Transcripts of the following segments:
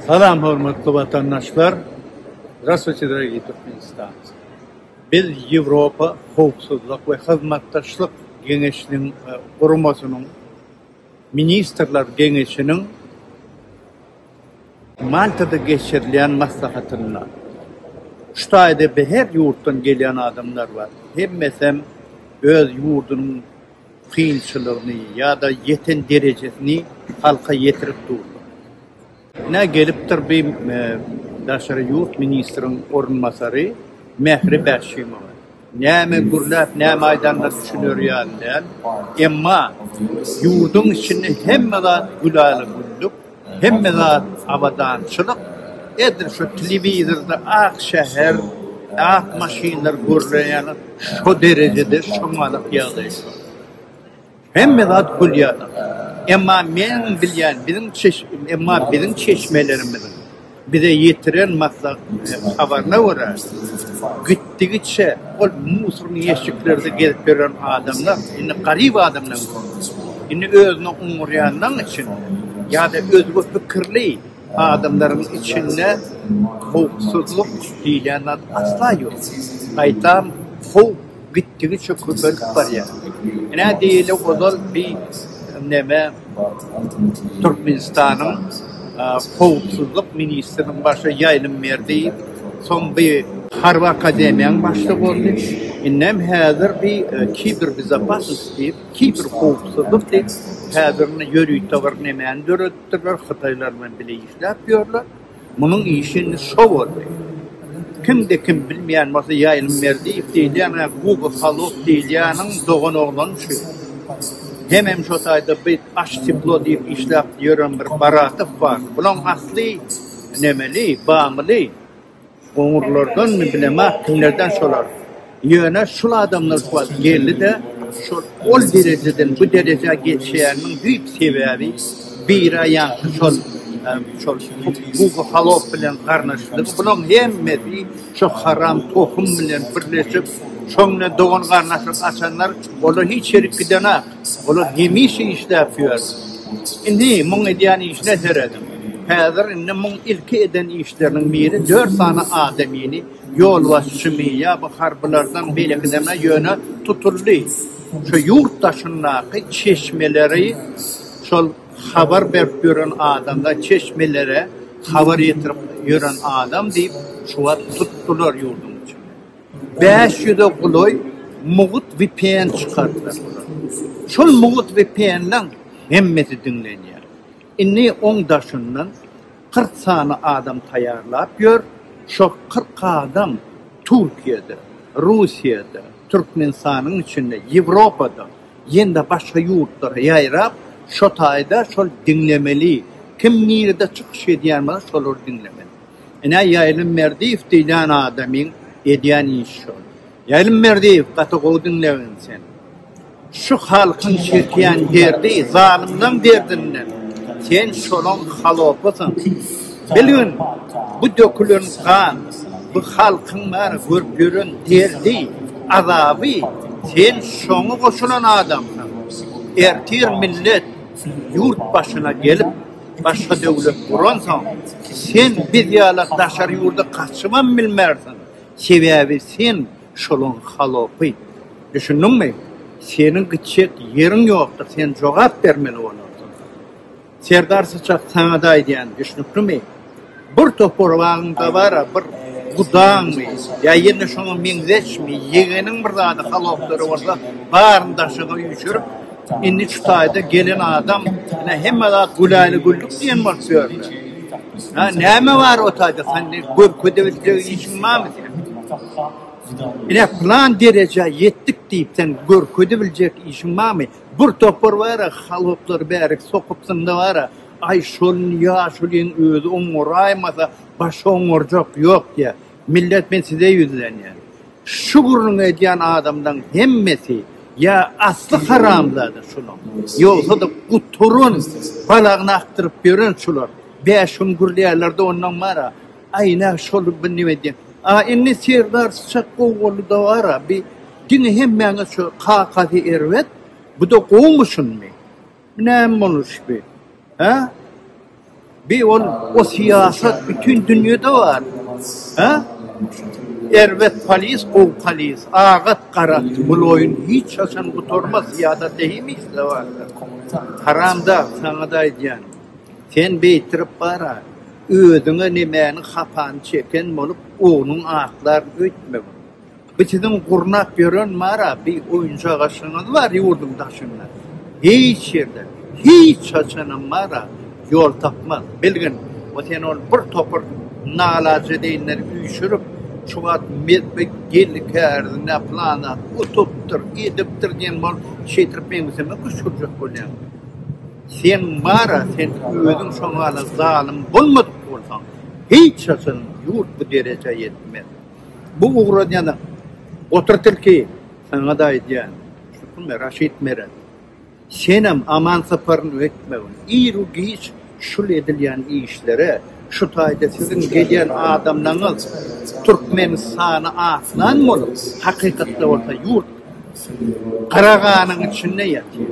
Salam hormatly watandaşlar! Zdrastwuýte dorogiý turkmenistanci! Biz Ýewropa howpsuzlyk we hyzmatdaşlyk geňeşiniň guramasynyň ministrler geňeşiniň Maltada geçirilýän maslahatynda şu taýda her ýurtdan gelýän adamlar bar. Hemmesem öz ýurdunyň kynçylygyny ýa-da ýeten derejesini halka ýetirip durlar. Ine, gelipdir bi daşary ýurt ministriň orunbasary Mähri Bäşimowa. Näme gürläp, näme aýdanyna düşüner ýaly däl. Emma ýurduň içinde hemme zat güläle-güllük. Hemme zat abadançylyk edil şu telewizorda ak şäher ak maşynlar görlen ýaly şo derejede şoňňalak ýagdaý şu hemme zat gülýär emma meň bilýän biziň emma biziň çeşmelerimiziň Bize ýetiren habaryna görä, gitdigiçe ol musorny ýeşiklerde gezip ýören adamlar indi garyp adamdan görner. Indi özüne oňarýanlaryň üçin ýa-da özge pikirli adamlaryň içinde howpsuzlyk diýilýän zat asla ýok. Gaýtam, howp. gitdigiçe köpelip barýar. Ine diýeli ozal bi neme Türkmenistanyň howpsuzlyk ministriniň başy ýaýlym berdi, soň bi harby akademiýaň başlygy boldy, indem häzir bi kiberbezopasnost diýip, kiber howpsuzlyk diýip, häzir indi ýörite bir nemäni döredipdirler, hytaýlar bilen bile işläp ýörler. Munuň işi indi şo boldy. Kimde kim bilmeýän bolsa Ýaýlym Merdiýew diýilýän-ä Guga Halow diýilýäniň dogan oglany şu. Hemem şo taýda bi aş teplo diýip işläp ýören bir Baratow bar. Bulaň asly nemeli, bamyly. Goňurlardanmy, bilema, kimlerden şolar. Ýöne şul adamlar kuwat geldi-de, şol ol derejeden bu derejä geçýäniniň düýp sebäbi bira ýaňky şol şol Gugu Halow bilen garnaşylygy, bulaň hemmesi şo haram tohum bilen birleşip, şoňden dogan-garnaşlyk açanlar, olar hiç ýerik gidenak. Olar hemişe işläp ýör. Indi muň edýän işine serediň. Häzir indi muň ilki eden işleriniň biri dört sany adamyny ýolbaşçymy ýa-bu harbylardan beýlekidemi ýöne tutuldy. Şu ýurt daşyndaky çeşmeleri şol habar berip ýören adamda çeşmelere habar ýetirip ýören adam diýip şu wagt tutdular ýurduň içinde. bäş ýüze golaý mugt vpn çykardylar. Şol mugt vpn-leň hemmesi diňlenýär. Indi oň daşyndan kyrk sany adam taýýarlap ýör, şol kyrk adam Türkiýede, Russiýada, Türkmenistanyň içinde, Ýewropada, ýene-de başga ýurtlara ýaýrap, şo taýda şol diňlemeli, kim nirede çykyş edýän bolsa şolary diňlemeli. Ine, Ýaýlym Merdiýew diýlen adamyň edýän işi şol. Ýaýlym Merdiýew, gaty gowy diňlegin sen. Şu halkyň çekýän derdi zalymlaň derdinden. Sen şolaň halopysyň. Bilgin, bu dökülen gan, bu halkyň bäri görüp ýören derdi, azaby, sen şoňa goşulan adamsyň. Ertir millet ýurt başyna gelip. Başga döwlet guransoň, sen biz ýala daşary ýurda gaçybam bilmersiň, sebäbi sen şolaň halopy. Düşündiňmi? Seniň gitjek ýeriň ýokdur, sen jogap bermeli bolarsyň. Serdar Syçak saňada aýdýan, düşnüklimi? Bir topar wagtyňda bar-a, bir gudaňmy ýa ýene şoňa meňzeşmi, ýegeniň bir zady haloplary bolsa, baryny daşyňa üýşürip, indi şu taýda gelen adam, ine, hemme zat güläle-güllük diýen bolup ýörler. Hä, näme bar o taýda, sende görkezip biljek işiň barmy seň? Ine, pylan derejä ýetdik diýip, sen görkezip biljek işiň barmy? Bir topar bar-a, haloplary bärik sokup synda bar-a, Aý şol ýaşulyň özi oňaraýmasa başga oňarjak ýok diýýä. Millet men size ýüzlenýän. Şu gürrüňi edýän adamlaň hemmesi ýa asly haramzada şulaň, ýogsada guturyn balagyny akdyryp ýören şular. Bäş gün gürleýärlerde ondan bara. Aý nä şol bir nime diýýän. A indi Serdar Syçak gowy bolduda bara bi diňe hemmäňe şu kakasy erbet buda gowmy şuny. Bu näme boluş bi? Hä? Bi ol o syýasat bütin dünýede bar. Hä? Erbet polis, gowy polis, agat, garat, bul oýun hiç haçan gutarmaz, syýasat eýmisde barda. Haramdag, saňada aýdýan, sen beýtirip bara, özüňe nemäniň hapany çeken bolup, ogluň aklaryn öýtmegin. Bu siziň gurnap ýören bar-a bi oýunjak aşygyňyz bar ýurduň daşynda. Hiç ýerde, hiç haçanam bar-a ýol tapmaz. Bilgin, o seni ol bir topar nalajedeýinleri üýşürip, şu wagt mezbe geldi kärdine pylan zat utupdyr, edipdir diýen bolup şeýtirip meňzeme küşgürjek bolýaň. Sen bar-a, sen özüň şoňala zalym bolmadyk bolsaň, hiç haçanam ýurt bu derejä ýetmez. Bu ugran ýaly Otur tilki, saňa-da aýdýan, Şukume, Raşid Meret, senem Aman Saparynyň etmegin, ir-u-giç şul edilýän işlere, şu taýda siziň gelýän adamlaňyz Türkmenistany aslan bolup, hakykatda bolsa ýurt Garaganyň içinde ýatyr.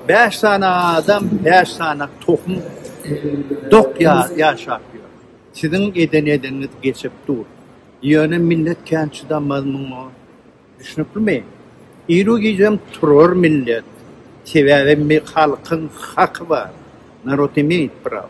Bäş sany adam, bäş sany tohum dok ýaşap ýör. Siziň eden edeniňiz geçip dur. Ýöne millet kän çydamaz muňa. Düşnüklimi? Iru gijäm turar millet. Sebäbi mi halkyň haky bar. Narod imeýt prawo.